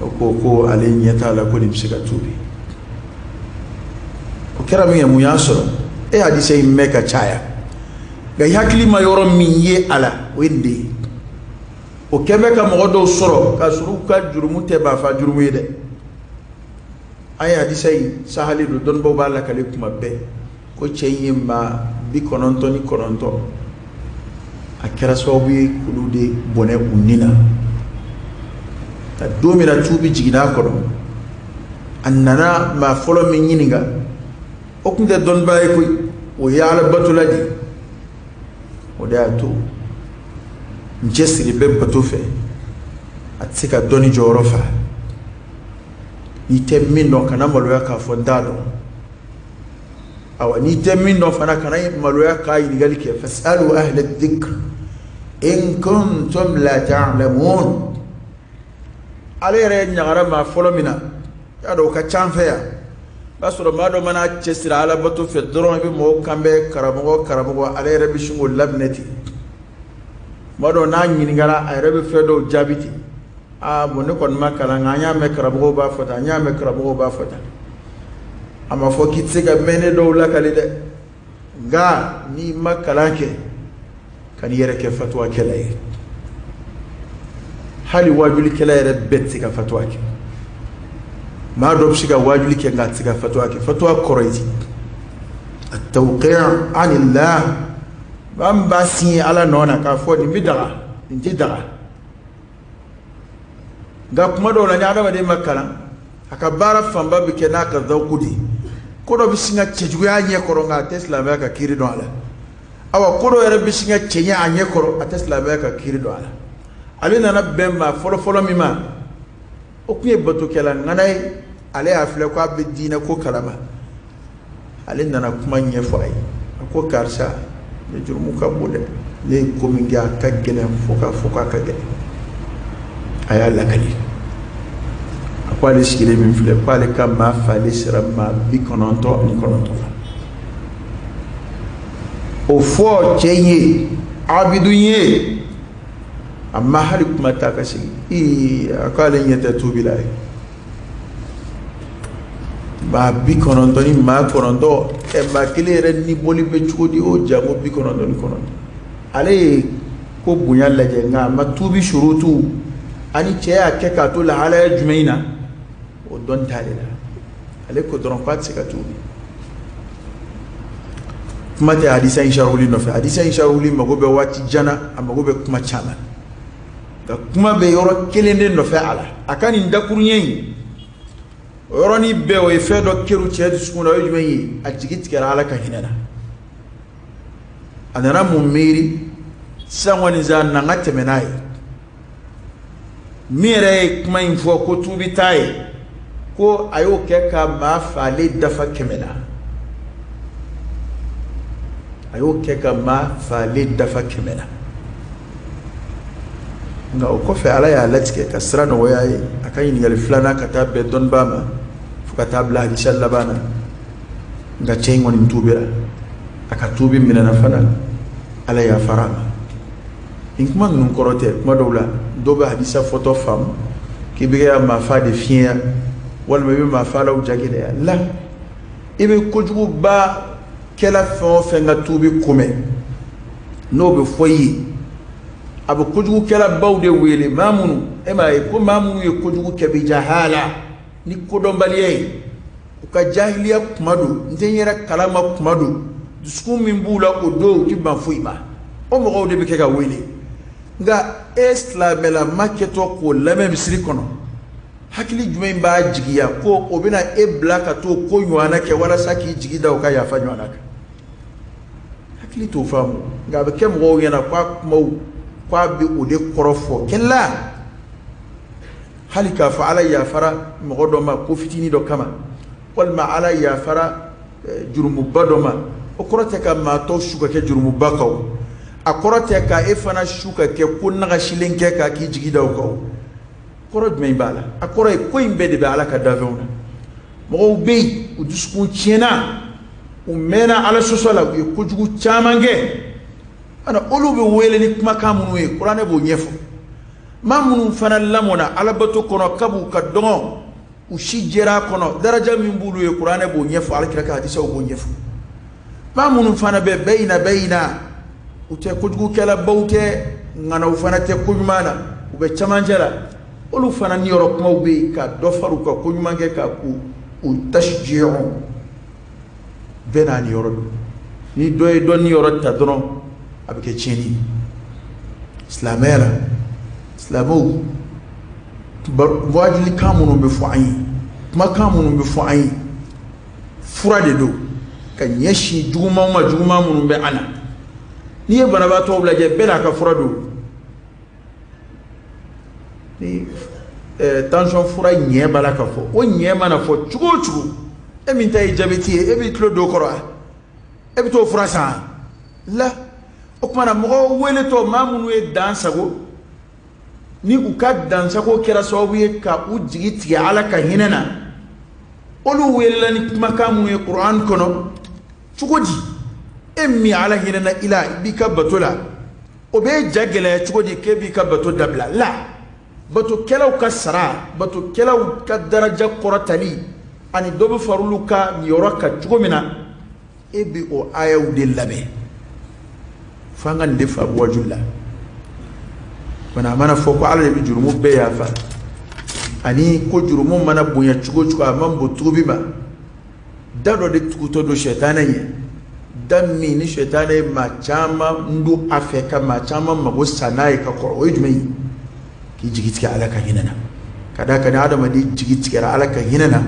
o ko ko ale ɲɛ t'a la ko nin bɛ se ka tuubi o kɛra min kɛ mun y'a sɔrɔ e hadisa in mɛn ka caya nka i hakili ma yɔrɔ min ye a la o ye nin de ye o kɛ bɛ ka mɔgɔ dɔw sɔrɔ k'a sɔrɔ u ka jurumu tɛ maa fa jurumu ye dɛ an ye hadisa in sahali don dɔnnibaaw b'a lakali kuma bɛɛ ko cɛ in ye maa bi kɔnɔntɔn ni kɔnɔntɔn a kɛra sababu ye k'olu de bɔnɛ u ni na ka don min na tuubi jiginna a kɔnɔ a nana maa fɔlɔ min ɲininka o tun tɛ dɔnnibaa ye koyi o ye ala batola de ye o de y'a to n cɛsiri bɛ bato fɛ a tɛ se ka dɔnni jɔyɔrɔ fa n'i tɛ min dɔn kana maloya k'a fɔ n t'a dɔn awa n'i tɛ min dɔn fana kana maloya ka ɲininkali kɛ fasalu ahla dikr in kuntum la ta'lamun ale yɛrɛ ɲagara maa fɔlɔ min na y'a dɔn o ka ca an fɛ yan b'a sɔrɔ maa dɔ mana cɛsiri ala bato fɛ dɔrɔn i bɛ mɔgɔw kan mɛn karamɔgɔ karamɔgɔ ale yɛrɛ bɛ sin k'o laminɛ ten tuma dɔw n'a ɲininkara a yɛrɛ bɛ fɛn dɔw jaabi ten aa bon ne kɔni ma kalan nka an y'a mɛn karamɔgɔw b'a fɔ tan an y'a mɛn karamɔgɔw b'a fɔ tan a ma fɔ k'i tɛ se ka mɛnnen dɔw lakali dɛ nka n'i ma kalan kɛ kana i yɛrɛ kɛ fatuwakɛla ye hali waajulikɛla yɛrɛ bɛɛ tɛ se ka fatuwa kɛ maa dɔ bɛ se ka waajuli kɛ nka a tɛ se ka fatuwa kɛ fatuwa kɔrɔ ye attawqi anillah maa min b'a siɲɛ ala nɔ na k'a fɔ nin bɛ daga nin tɛ daga nka kuma dɔw la ni adamaden ma kalan a ka baara fanba bɛ kɛ n'a ka zawuku de ye ko dɔ bɛ sin ka cɛjuguya a ɲɛ kɔrɔ nka a tɛ silamɛya ka kiri dɔn a la awa ko dɔ yɛrɛ bɛ sin ka cɛɲɛ a ɲɛ kɔrɔ a tɛ silamɛya ka kiri dɔn a la ale nana bɛn maa fɔlɔfɔlɔ min ma o tun ye batokɛla ŋana ye ale y'a filɛ ko a bɛ diinɛ ko kalama ale nana kuma ɲɛfɔ a ye a ko karisa ne jurumu ka bon dɛ ne ye ko min kɛ a ka gɛlɛn fo k'a fɔ k'a ka gɛlɛn a y'a lakali a ko ale sigilen min filɛ ko ale ka maa falen sera maa bi kɔnɔntɔn ani kɔnɔntɔn la o fɔ cɛ ye abidun ye a ma hali kuma ta ka sigi ii a ko ale ɲɛ tɛ tuubi la i ye maa bi kɔnɔntɔn ni maa kɔnɔntɔn ɛ maa kelen yɛrɛ ni bɔli bɛ cogo di o janko bi kɔnɔntɔn ni kɔnɔntɔn ale ye ko bonya lajɛ nka a ma tuubi surutu ani cɛ y'a kɛ k'a to lahalaya jumɛn in na o dɔn ta de la ale ko dɔrɔn k'a tɛ se ka tuubi kuma tɛ hadisa in sharuli nɔfɛ hadisa in sharuli mago bɛ waati jan na a mago bɛ kuma caman na kuma bɛ yɔrɔ kelen de nɔfɛ a la a ka nin dakuruɲɛ in o yɔrɔnin bɛɛ o ye fɛn dɔ kɛrun cɛ dusukun na o ye jumɛn ye a jigi tigɛra ala ka hinɛ na a nana mun miiri sisan kɔni sa na n ka tɛmɛ n'a ye min yɛrɛ ye kuma in fɔ ko tuubi t'a ye ko a y'o kɛ ka maa faalen dafa kɛmɛ na a y'o kɛ ka maa faalen dafa kɛmɛ na nka o kɔfɛ ala y'a latigɛ ka sira nɔgɔya ye a ka ɲininkali filanan ka taa bɛn dɔnnibaa ma fo ka taa bila hadisa laban na nka cɛ in kɔni tuubira a ka tuubi minɛna fana ala y'a fara a ma nin kuma ninnu kɔrɔ tɛ kuma dɔw la dɔw bɛ hadisa fɔtɔ faamu k'i bɛ ka maafa de fiɲɛya walima i bɛ maafalaw jagɛlɛya la i bɛ kojugubakɛla fɛn o fɛn ka tuubi komɛ n'o bɛ fɔ i ye a bɛ kojugukɛlabaw de wele maa minnu e m'a ye ko maa minnu ye kojugu kɛ bi jahala ni kodɔnbaliya ye u ka jahiliya kuma don n tɛ n yɛrɛ kalama kuma don dusukun min b'u la o don u ti ban foyi ma o mɔgɔw de bɛ kɛ ka wele nka e silamɛlama kɛtɔ k'o lamɛn misiri kɔnɔ hakili jumɛn b'a jigiya ko o bɛna e bila ka t'o ko ɲɔgɔnna kɛ walasa k'i jigi da u ka yafa ɲɔgɔnna kan hakili t'o faamu nka a bɛ kɛ mɔgɔw ɲɛna k'a kumaw k'a bɛ o de kɔrɔfɔ kɛ la hali k'a fɔ ala yafara mɔgɔ dɔ ma ko fitinin dɔ kama walima ala yafara eh, jurumuba dɔ ma o kɔrɔ tɛ ka maa tɔw su ka kɛ jurumuba kan o a kɔrɔ tɛ ka e fana su ka kɛ ko nagasilen kɛ k'a k'i jigi da o kan o kɔrɔ jumɛn b'a la a kɔrɔ ye ko in bɛɛ de bɛ ala ka danfɛnw na mɔgɔw bɛ yen u dusukun tiɲɛna u mɛnna ala sɔsɔ la u ye kojugu caman kɛ ana olu bɛ wele ni kumakan minnu ye kuranɛ b'o ɲɛfɔ maa minnu fana lamɔna alabato kɔnɔ kab'u ka dɔgɔn u si jɛra a kɔnɔ daraja min b'olu ye kuranɛ b'o ɲɛfɔ alakira ka hadisaw b'o ɲɛfɔ maa minnu fana bɛ bayina bayina u tɛ kojugukɛlabaw tɛ ŋanaw fana tɛ koɲuman na u bɛ camancɛ la olu fana niyɔrɔ kumaw bɛ yen ka dɔ fara u ka koɲuman kɛ kan u u tasi jiyɔrɔ bɛɛ n'a niyɔrɔ don ni dɔ ye dɔ niyɔrɔ ta dɔrɔn a bɛ kɛ tiɲɛni ye silamɛya la silamɛw waajilikan minnu bɛ fɔ an ye kumakan minnu bɛ fɔ an ye fura de don ka ɲɛsin jugumanw ma juguman minnu bɛ an na n'i ye banabaatɔw lajɛ bɛɛ n'a ka fura don ni eh, tansiyɔn fura ɲɛ b'a la ka fɔ o ɲɛ mana fɔ cogo o cogo e min ta ye jabɛti ye e b'i tulo don o kɔrɔ wa e bɛ t'o fura san la o kuma na mɔgɔw weletɔ maa minnu ye dan sago ni u ka dansago kɛra sababu ye ka u jigi tigɛ ala ka hinɛ na olu welela ni kumakan minnu ye kuranɛ kɔnɔ cogo di e min ala hinɛna i la i b'i ka bato la o bɛ ja gɛlɛya cogo di k'e b'i ka bato dabila la batokɛlaw ka sara batokɛlaw ka daraja kɔrɔtali ani dɔ bɛ far'olu ka yɔrɔ kan cogo min na e bɛ o ayaw de lamɛn fo an ka nin de faamu waaju la mana a mana fɔ ko ala de bɛ jurumu bɛɛ yafa ani ko jurumu mana bonya cogo o cogo a man bon tuubi ma da dɔ de tugutɔ don sɛtanɛ ye da min ni sɛtanɛ ye maa caman don a fɛ ka maa caman mago sa n'a ye ka kɔrɔ o ye jumɛn ye k'i jigi tigɛ ala ka hinɛ na ka d'a kan ni adamaden jigi tigɛra ala ka hinɛ na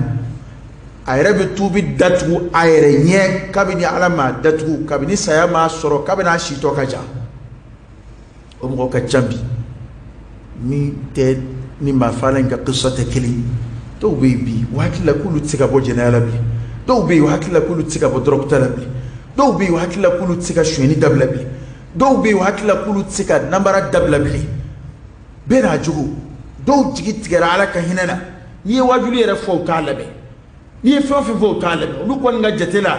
a yɛrɛ bɛ tuubi da tugu a yɛrɛ ɲɛ kabini ala m'a datugu kabini saya m'a sɔrɔ kabini a si tɔ ka jan o mɔgɔ ka ca bi min tɛ ni maa faala in ka kisa tɛ kelen dɔw bɛ yen bi o hakili la k'olu tɛ se ka bɔ jɛnɛya la bi dɔw bɛ yen o hakili la k'olu tɛ se ka bɔ dɔrɔguta la bi dɔw bɛ yen o hakili la k'olu tɛ se ka sonyɛni dabila bi dɔw bɛ yen o hakili la k'olu tɛ se ka namara dabila bilen bɛɛ n'a jogo dɔw jigi tigɛra ala ka hinɛ na n'i ye wajuli yɛrɛ fɔ u t'a lamɛn n'i ye fɛn o fɛn fɔ u t'a lamɛn olu kɔni ka jate la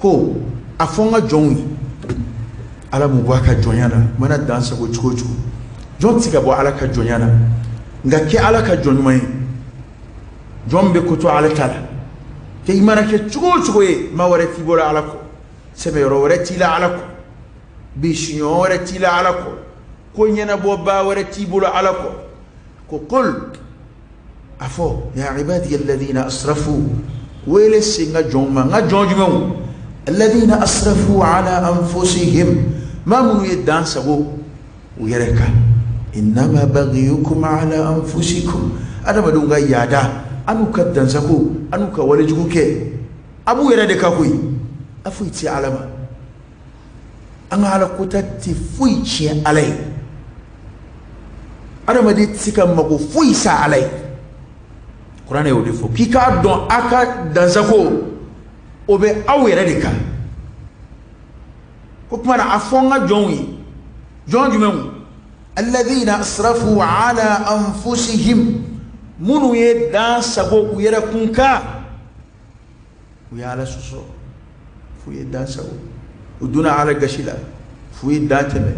ko a fɔ n ka jɔnw ye ala m'u bɔ a ka jɔnya na mana dan sago cogo o cogo jɔn tɛ se ka bɔ ala ka jɔnya na nka kɛ ala ka jɔn ɲuman ye jɔn bɛ ko to ala ta la kɛ i mana kɛ cogo o cogo ye maa wɛrɛ t'i bolo ala kɔ sɛmɛyɔrɔ wɛrɛ t'i la ala kɔ bisiɲɔgɔn wɛrɛ t'i la ala kɔ ko ɲɛnabɔbaa wɛrɛ t'i bolo ala kɔ ko qul a fɔ ya ibadiya alladhina asrafu wele se n ka jɔnw ma n ka jɔn jumɛnw alladhina asrafu ala anfusihim maa minnu ye dan sago u yɛrɛ kan innama baghiyukum ala anfusikum adamadenw ka yaada an n'u ka dansago an n'u ka walejugu kɛ a b'u yɛrɛ de kan koyi a foyi tɛ ala ma an ka ala kota tɛ foyi tiɲɛ ala ye adamaden tɛ se ka mago foyi sa ala ye kuranɛ y'o de fɔ k'i k'a dɔn a ka dansago o bɛ aw yɛrɛ de kan k'o kuma na a fɔ n ka jɔnw ye jɔn jumɛnw alladhina asrafu ala anfusihim minnu ye dan sago u yɛrɛ kun kan u ye ala sɔsɔ f'u ye dan sago u donna ala gasi la f'u ye dan tɛmɛ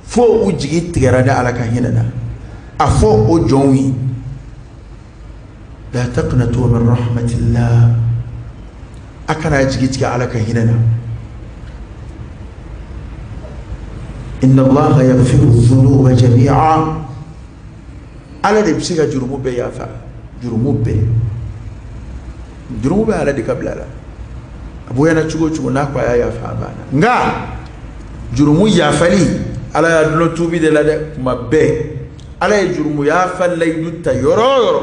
fo u jigi tigɛra ni ala ka hinɛ na a fɔ o jɔnw ye la taqnatu min rahmatillah a kana jigi tigɛ ala ka hinɛ na inna allaha yaghfiru dhunuba jami'a ala de bɛ se ka jurumu bɛɛ yafa jurumu bɛɛ jurumu bɛ ala de ka bila la a bonyana cogo cogo n'a ko a y'a yafa a banna nka jurumu yafali ala y'a dulon tubi de la dɛ tuma bɛɛ ala ye jurumu yafa layidu ta yɔrɔ o yɔrɔ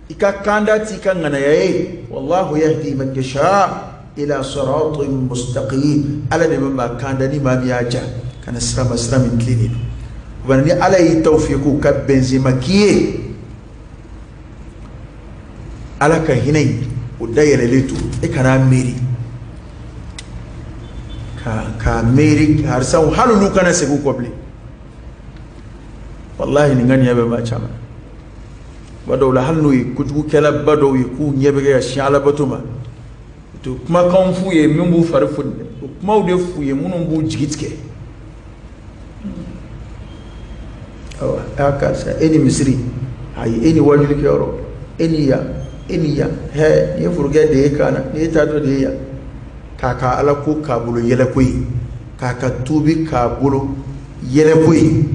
i ka kanda t'i ka ŋanaya ye wallahu yahdi man yasha ila siratin mustaqim ala de bɛ maa kanda ni maa min y'a ja ka na sira ma sira min tilennen don bari ni ala y'i tawfiqu ka bɛn cɛn ma k'i ye ala ka hinɛ in o dayɛlɛlen to e kana miiri ka ka miiri karisaw hali n'u kana segin u kɔ bilen walahi nin ŋaniya bɛ maa caman bɛ dɔw la hali n'u ye kojugukɛlaba dɔw ye k'u ɲɛ bɛ ka sin alabato ma u tɛ kumakanw f'u ye min b'u fari foni dɛ o kumaw de f'u ye minnu b'u jigi tigɛ awa aa karisa e ni misiri ayi e ni wajulikɛyɔrɔ e ni yan e ni yan hɛ nin ye forokiya de ye kan na nin ye taatɔ de ye yan k'a ka alako k'a bolo yɛlɛko ye k'a ka tuubi k'a bolo yɛlɛko ye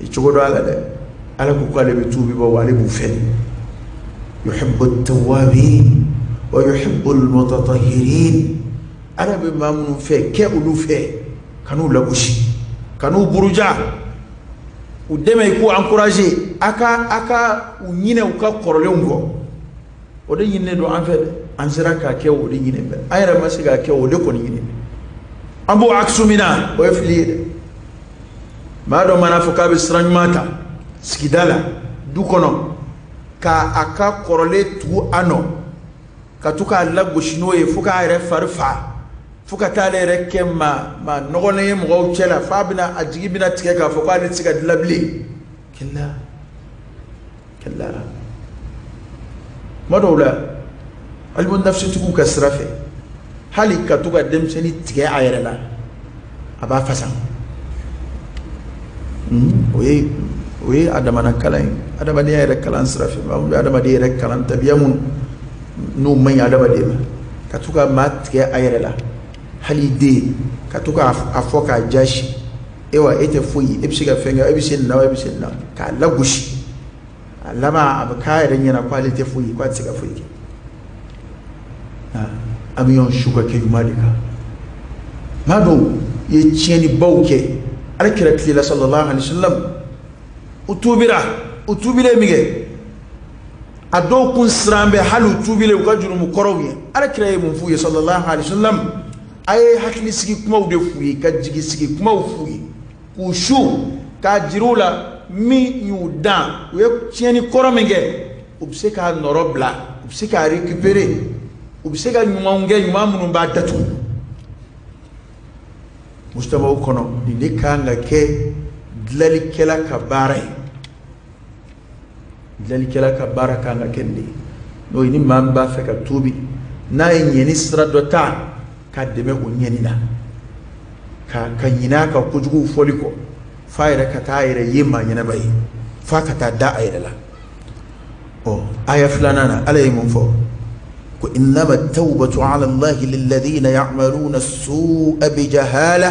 i cogo don a la dɛ ala ko k'ale bɛ tubibaaw ale b'u fɛ yuhibbu tawwabin wa yuhibbu almutatahirin ala bɛ maa minnu fɛ kɛ olu fɛ kan'u lagosi kan'u buruja u dɛmɛ i k'u encourager a ka a ka u ɲinɛ u ka kɔrɔlenw kɔ o de ɲininen don an fɛ dɛ an sera k'a kɛ o de ɲininen bɛ an yɛrɛ ma se k'a kɛ o de kɔni ɲininen an b'o akisu min na o ye fili ye dɛ maa dɔ mana fɔ k'a bɛ sira ɲuman ta sigida la du kɔnɔ k'a a ka kɔrɔlen tugu a nɔ ka to k'a lagosi n'o ye fo k'a yɛrɛ fari fa fo ka taa ale yɛrɛ kɛ maa nɔgɔlen ye mɔgɔw cɛ la f'a bɛna a jigi bɛna tigɛ k'a fɔ k'ale tɛ se ka dilan bilen kɛlɛla kɛlɛla kuma dɔw la ilimu nafisitigiw ka sira fɛ hali ka to ka denmisɛnnin tigɛ a yɛrɛ la a b'a fasa hmm, o ye o ye a damana kalan ye adamadenya yɛrɛ kalan sira fɛ maa minnu bɛ adamaden yɛrɛ kalan tabiya minnu man ɲi adamaden ma ka to ka maa tigɛ a yɛrɛ la hali i den ka to k'a fɔ k'a jasi e wa e tɛ foyi e bɛ se ka fɛn kɛ e bɛ se na e bɛ se na k'a lagosi a laban a bɛ k'a yɛrɛ ɲɛna k'ale tɛ foyi k'a tɛ se ka foyi kɛ an bɛ ɲɔgɔn su ka kɛ ɲuman de kan maa dɔw ye tiɲɛnibaw kɛ ala kira tile la sallallahu alaihi wasallam u tuubira u tuubilen min kɛ a dɔw kun siran bɛ hali u tuubilen u ka jurumu kɔrɔw ye ala kira ye mun f'u ye sallallahu alaihi wasallam a ye hakili sigi kumaw de f'u ye ka jigi sigi kumaw f'u ye k'u su k'a jiri u la min y'u dan u ye tiɲɛni kɔrɔ min kɛ u bɛ se k'a nɔrɔbila u bɛ se k'a récupérer u bɛ se ka ɲumanw kɛ ɲuman minnu b'a datugu mujtamau kɔnɔ nin de kan ka kɛ dilanlikɛla ka baara ye dilanlikɛla ka baara kan ka kɛ nin de ye n'o ye ni maa min b'a fɛ ka tuubi n'a ye ɲɛni sira dɔ ta k'a dɛmɛ o ɲɛni na ka ka ɲinɛ a ka kojuguw fɔli kɔ f'a yɛrɛ ka taa a yɛrɛ ye maa ɲɛnenba ye f'a ka taa da a yɛrɛ la ɔ aya filanan na ala ye mun fɔ ko innama tawbatu ala allahi lilladina yamaluna sua bijahala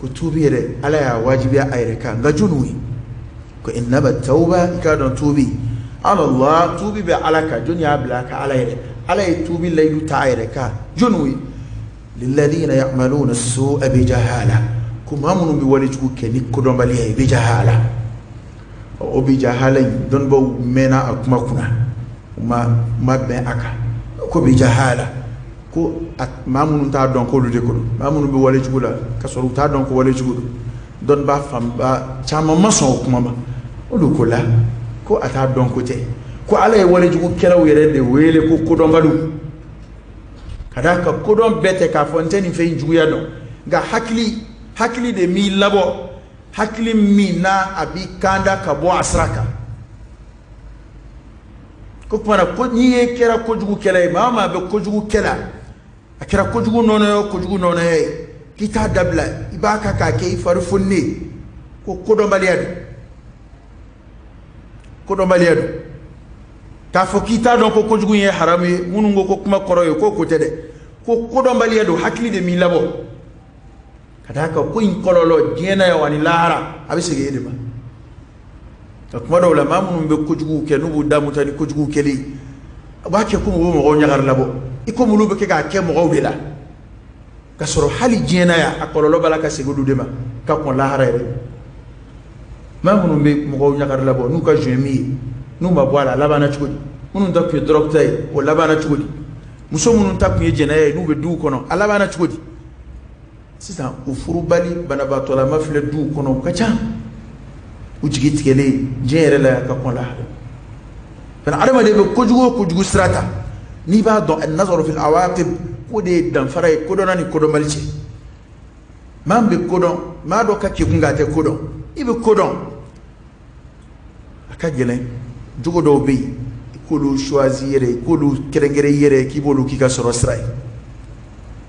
ko tuubi yɛrɛ ala y'a wajibiya a yɛrɛ kan nka jɔniw ye ko innama tawba i k'a dɔn tuubi ala Allah tuubi bɛ ala kan jɔni y'a bila a kan ala yɛrɛ ala ye tuubi layidu ta a yɛrɛ kan jɔniw ye lilladina ya'maluna su'a bi jahala ko maa minnu bɛ wale jugu kɛ ni kodɔnbaliya ye bi jahala o bi jahala in dɔnnibaaw mɛnna a kuma kunna u ma ma bɛn a kan ko bi jahala ko maa minnu t'a dɔn k'olu de ko don maa minnu bɛ wale jugu la ka sɔrɔ u t'a dɔn ko wale jugu don dɔnnibaa fanba caman ma sɔn o kuma ma olu ko la ko a t'a dɔn ko tɛ ko ala ye wale jugu kɛlaw yɛrɛ de wele ko kodɔnbaliw ka d'a kan kodɔn bɛɛ tɛ k'a fɔ n tɛ nin fɛn juguya dɔn nka hakili hakili de m'i labɔ hakili min n'a a b'i kanda ka bɔ a sira kan ko kumana ko ni e kɛra kojugukɛla ye maa o maa bɛ kojugu kɛ la a kɛra kojugu nɔnɔ ye o kojugu nɔnɔ ye k'i t'a dabila i b'a kan k'a kɛ i fari foninen ye ko kodɔnbaliya don kodɔnbaliya don k'a fɔ k'i t'a dɔn ko kojugu ye haramu ye minnu ko ko kuma kɔrɔ ye k'o ko tɛ dɛ ko kodɔnbaliya don hakili de m'i labɔ ka d'a kan ko in kɔlɔlɔ diɲɛ na yan wani lahara a bɛ segin e de ma ka kuma dɔw la maa minnu bɛ kojuguw kɛ n'u b'u damu ta ni kojuguw kɛli ye a b'a kɛ komi u bɛ mɔgɔw ɲagari labɔ i komi olu bɛ kɛ k'a kɛ mɔgɔw de la ka sɔrɔ hali diɲɛ na yan a kɔlɔlɔ b'a la ka segin olu de ma ka kɔn lahara yɛrɛ maa minnu bɛ mɔgɔw ɲagari labɔ n'u ka zuɲɛ min ye n'u ma bɔ a la a labanna cogo di minnu ta tun ye dɔrɔgu ta ye o labanna cogo di muso minnu ta tun ye jɛnɛya ye n'u bɛ duw kɔnɔ a labanna cogo di sisan u furubali banabaatɔlama filɛ duw kɔnɔ u ka ca u jigi tigɛlen diɲɛ yɛrɛ la ka kɔn lahara fana adamaden bɛ kojugu o kojugu sira ta n'i b'a dɔn annazar fil awaqib ko o de ye danfara ye kodɔnna ni kodɔnbali cɛ maa min bɛ kodɔn maa dɔ ka kekun nka a tɛ kodɔn i bɛ kodɔn a ka gɛlɛn jogo dɔw bɛ yen i k'olu choisi yɛrɛ i k'olu kɛrɛnkɛrɛn i yɛrɛ k'i b'olu k'i ka sɔrɔ sira ye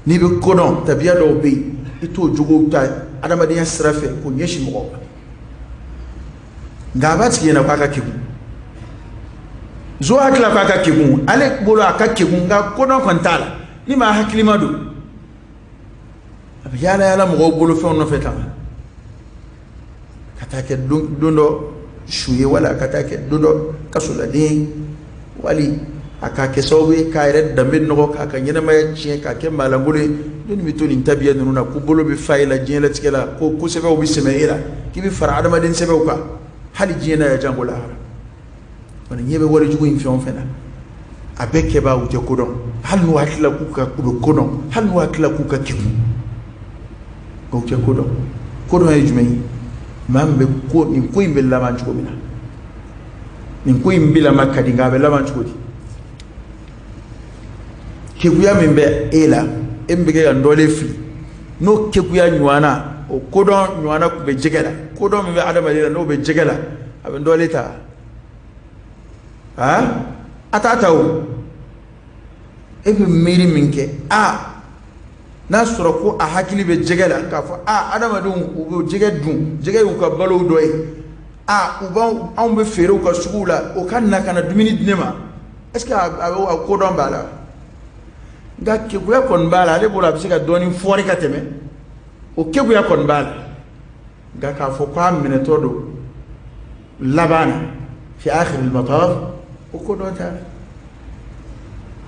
n'i bɛ ko dɔn tabiya dɔw bɛ yen i t'o jogow ta adamadenya sira fɛ k'o ɲɛsin mɔgɔw ma nka a b'a tigi ɲɛna k'a ka kegun zon hakili la k'a ka kegun ale bolo a ka kegun nka ko dɔn kɔni t'a la ni maa hakilima don a bɛ yaala yaala mɔgɔw bolofɛnw nɔfɛ tan ka taa kɛ don dɔ su ye wala a ka taa kɛ don dɔ kasoladen ye wali a k'a kɛ sababu ye k'a yɛrɛ danbe nɔgɔ k'a ka ɲɛnamaya tiɲɛ k'a kɛ maalankolon ye dɔɔni i bɛ to nin tabiya ninnu na ko bolo bɛ fa e la diɲɛlatigɛ la ko ko sɛbɛw bɛ sɛmɛ e la k'i bɛ fara adamaden sɛbɛw kan hali diɲɛ na yan janko lahara an ɲɛ bɛ walejugu in fɛn o fɛn na a bɛɛ kɛbaa u tɛ kodɔn hali n'u hakili la k'u ka u bɛ kodɔn hali n'u hakili la k'u ka kegun u tɛ kodɔn kodɔn ye jumɛn ye maa min bɛ ko nin ko in bɛ laban cogo min na nin ko in bɛ laban ka di nka a bɛ laban cogo di kekuya min bɛ e la min bɛ kɛ ka dɔlen fili n'o kekuya ɲɔgɔnna o kodɔn ɲɔgɔnna tun bɛ jɛgɛ la kodɔn min bɛ adamaden la n'o bɛ jɛgɛ la a bɛ dɔlen ta aa a t'a ta o e bɛ miiri min kɛ a n'a sɔrɔ ko a hakili bɛ jɛgɛ la k'a fɔ a adamadenw u bɛ jɛgɛ dun jɛgɛ y'u ka balow dɔ ye a u b'anw anw bɛ feere u ka suguw la o ka na ka na dumuni di ne ma est ce que a bɛ kodɔn b'a la nka keguya kɔni b'a la ale bolo a bɛ se ka dɔɔni fori ka tɛmɛ o keguya kɔni b'a la nka k'a fɔ k'a minɛtɔ don laban na fi akhiril mataf o kodɔn t'a la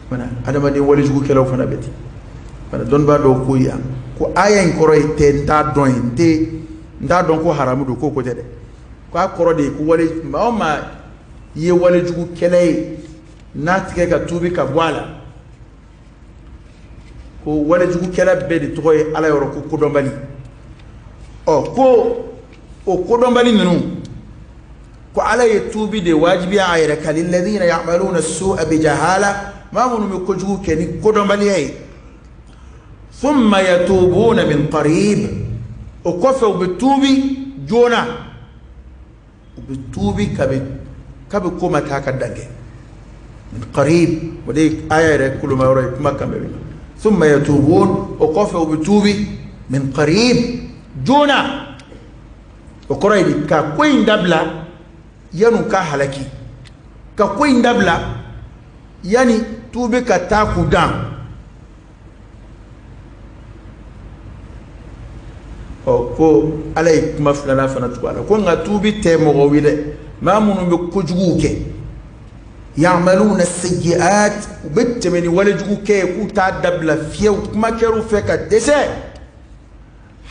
fana adamaden walejugukɛlaw fana bɛ ten fana dɔnnibaa dɔw ko yan ko aya in kɔrɔ ye n tun t'a dɔn ye n tun t'a dɔn ko haramu don k'o ko tɛ dɛ k'a kɔrɔ de ye ko wale maa o maa i ye walejugukɛla ye n'a tigi ka tuubi ka bɔ a la ko walejugukɛla bɛɛ de tɔgɔ ye ala yɔrɔ ko kodɔnbali ɔ ko o kodɔnbali ninnu ko ala ye tuubi de wajibiya a yɛrɛ kan lilladina yamaluna sua bijahala maa minnu bɛ kojugu kɛ ni kodɔnbaliya ye thumma yatubuna min qarib o kɔfɛ u bɛ tuubi joona u bɛ tuubi kabi kabi ko ma taa ka dange min karibi o de ye aya yɛrɛ koloma yɔrɔ ye kuma kan bɛ na thumma yatuubuuna o kɔfɛ u bɛ tuubi min karibi joona o kɔrɔ ye di ka ko in dabila yan'u ka halaki ka ko in dabila yanni tuubi ka taa k'u dan ɔ ko ala ye kuma filanan fana tugu a la ko nka tuubi tɛ mɔgɔw ye dɛ maa minnu bɛ kojuguw kɛ ya'maluna sayyi'at u bɛ tɛmɛ ni walejugu kɛ ye k'u t'a dabila fiyew kuma kɛr'u fɛ ka dɛsɛ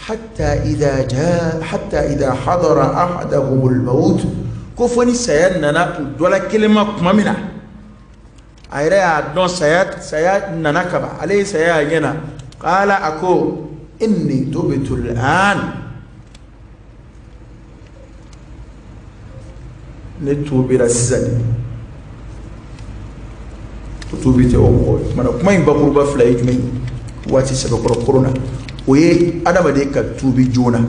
hatta idha jaa hatta idha hadara ahadahumul maut ko fo ni saya nana u dɔla kelen ma tuma min na a yɛrɛ y'a dɔn saya saya nana kaban ale ye saya y'a ɲɛ na qaala a ko inni tubtu al'an ne tuubira sisan de o tuubi tɛ o mɔgɔ ye kumana kuma in bakuruba fila ye jumɛn ye waati sɛbɛkɔrɔ koro na o ye adamaden ka tuubi joona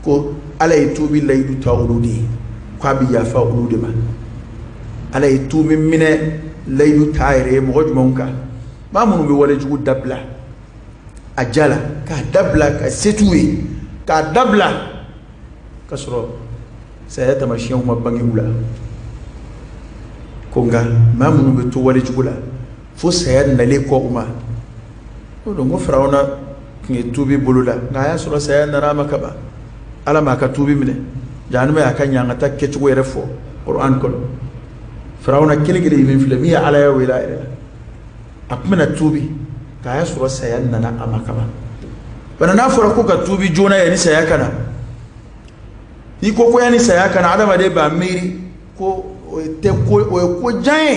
ko ala ye tuubi layidu ta olu de ye k'a bɛ yafa olu de ma ala ye tuubi minɛ layidu t'a yɛrɛ ye mɔgɔ jumɛnw kan maa minnu bɛ wale jugu dabila a ja la k'a dabila ka se t'u ye k'a dabila ka sɔrɔ saya tamasiyɛnw ma bange u la ko nka maa minnu bɛ to wale jugu la fo saya nalen kɔ u ma o don ko Firawuna tun ye tuubi boloda nka a y'a sɔrɔ saya nana a ma kaban Ala m'a ka tuubi minɛ jahanama y'a ka ɲangata kɛcogo yɛrɛ fɔ Kur'an kɔnɔ Firawuna kelen kelen min filɛ min ye Alaya wele a yɛrɛ la a tun bɛna tuubi nka a y'a sɔrɔ saya nana a ma kaban bana n'a fɔra ko ka tuubi joona yanni saya ka na n'i ko ko yanni saya ka na adamaden b'a miiri ko o ye tɛ ko o ye ko jan ye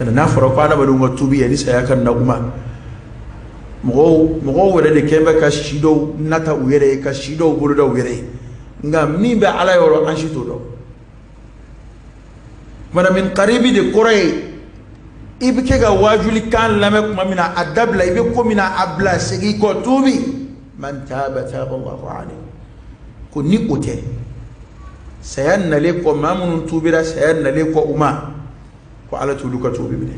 n'a fɔra ko adamadenw ka tuubi yanni saya ka na kuma mɔgɔw mɔgɔw wɛrɛ de kɛlen bɛ ka si dɔw nata u yɛrɛ ye ka si dɔw boloda u yɛrɛ ye nka min bɛ ala yɔrɔ an si t'o dɔn mana min karibi de kɔrɔ ye i bɛ kɛ ka waajuli kan lamɛn tuma min na a dabila i bɛ ko min na a bila segin kɔ tuubi man taaba taaba Allahu alayhi ko ni o tɛ saya nalen kɔ maa minnu tuubira saya nalen kɔ u ma ko ala t'olu ka tuubi minɛ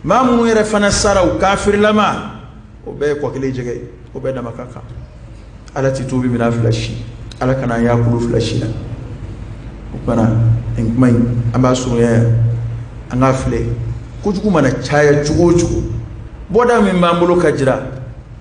maa minnu yɛrɛ fana sara u kafirilama o bɛɛ ye kɔ kelen jɛgɛ ye o bɛɛ dama ka kan ala ti tuubi minɛ a fila si ala kana an y'a kulu fila si la o kumana nin kuma in an b'a surunya yan an k'a filɛ kojugu mana caya cogo o cogo bɔda min b'an bolo ka jira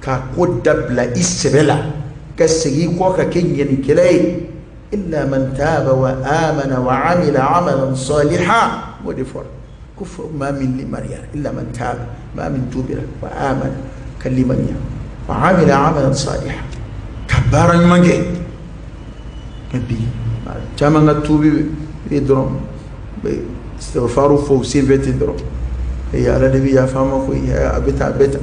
k'a ko dabila i sɛbɛ la ka segin i kɔ ka kɛ ɲumankɛla ye illa man taaba wa amana wa amila amalan saliha o de fɔra ko fɔ maa min limaniyara illa man taaba maa min tuubira wa amana ka limaniya wa amila amalan saliha ka baara ɲuman kɛ mɛ bi maa caman ka tuubi ye dɔrɔn bɛ istighfaru fɔ u senfɛ ten dɔrɔn ee ala de bɛ yafa ma koyi a bɛ tan a bɛ tan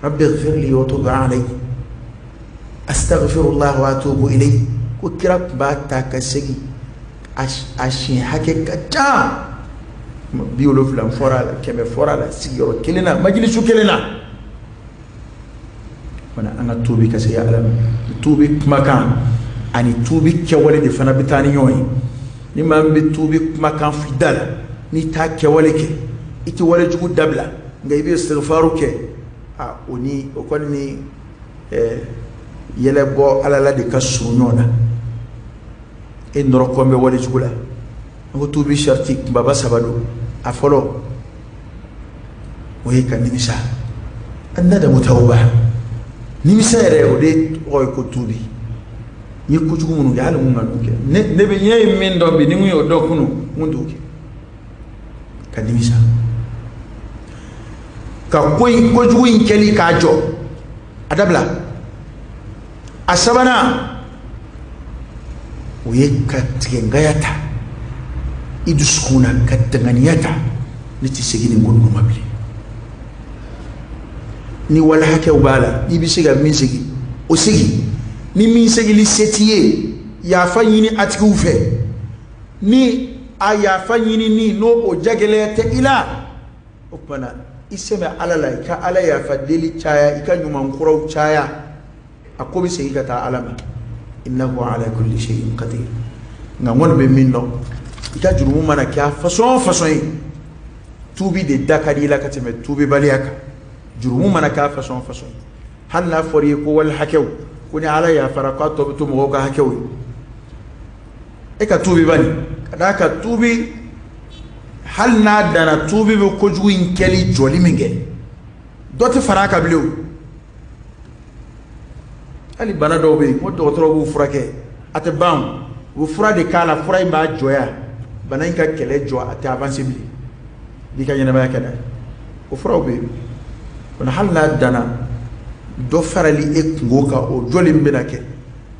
rabbi ighfir li wa tub alayya astaghfirullah wa atubu ilayhi ko kira tun b'a ta ka segin a siɲɛ hakɛ ka ca bi wolonwula fɔra a la kɛmɛ fɔra a la sigiyɔrɔ kelen na majilisu kelen na fana an ka tuubi ka segin ala ma tuubi kumakan ani tuubi kɛwale de fana bɛ taa ni ɲɔgɔn ye ni maa min bɛ tuubi kumakan fɔ i da la n'i t'a kɛwale kɛ i tɛ wale jugu dabila nka i bɛ istighfaru kɛ a o ni o kɔni ni yɛlɛ bɔ ala la de ka surun ɲɔgɔn na e nɔrɔ kɔn bɛ wale jugu la n ko tuubi sariti kunbaba saba don a fɔlɔ o ye ka nimisa annadamu tawba nimisa yɛrɛ o de tɔgɔ ye ko tuubi n ye kojugu minnu kɛ hali mun ka n'u kɛ ne bɛ ne ye min dɔn bi ni n tun y'o dɔn kunun n tun t'o kɛ ka nimisa ka ko in kojugu in kɛli k'a jɔ a dabila a sabanan o ye ka tigɛ ŋaniya ta i dusukun na ka dan ŋaniya ta ne tɛ segin nin ko ninnu ma bilen ni wali hakɛw b'a la i bɛ se ka min segin o segin ni min segili se t'i ye yafa ɲini a tigiw fɛ ni a yafa ɲinini n'o o jagɛlɛya tɛ i la o tumana i sɛmɛ ala la i ka ala yafa deli caya i ka ɲuman kuraw caya a ko bɛ segin ka taa ala ma innahu ala kulli shay'in qadir nka n kɔni bɛ min dɔn i ka jurumu mana kɛ a fasɔn fasɔn ye tuubi de da ka di i la ka tɛmɛ tuubibaliya kan jurumu mana kɛ a fasɔn fasɔn ye hali n'a fɔra i ye ko wali hakɛw ko ni ala yafara k'a tɔ bɛ to mɔgɔw ka hakɛw ye e ka tuubi bani ka d'a kan tuubi hali n'a danna tuubi bɛ kojugu in kɛli jɔli min kɛ dɔ tɛ fara a kan bilen o hali bana dɔw bɛ yen ko dɔgɔtɔrɔ b'u furakɛ a tɛ ban u bɛ fura de k'a la fura in b'a jɔya bana in ka kɛlɛ jɔ a tɛ avanse bilen n'i ka ɲɛnamaya kɛ dɛ o furaw bɛ yen hali n'a danna dɔ farali e kunko kan o jɔli min bɛna kɛ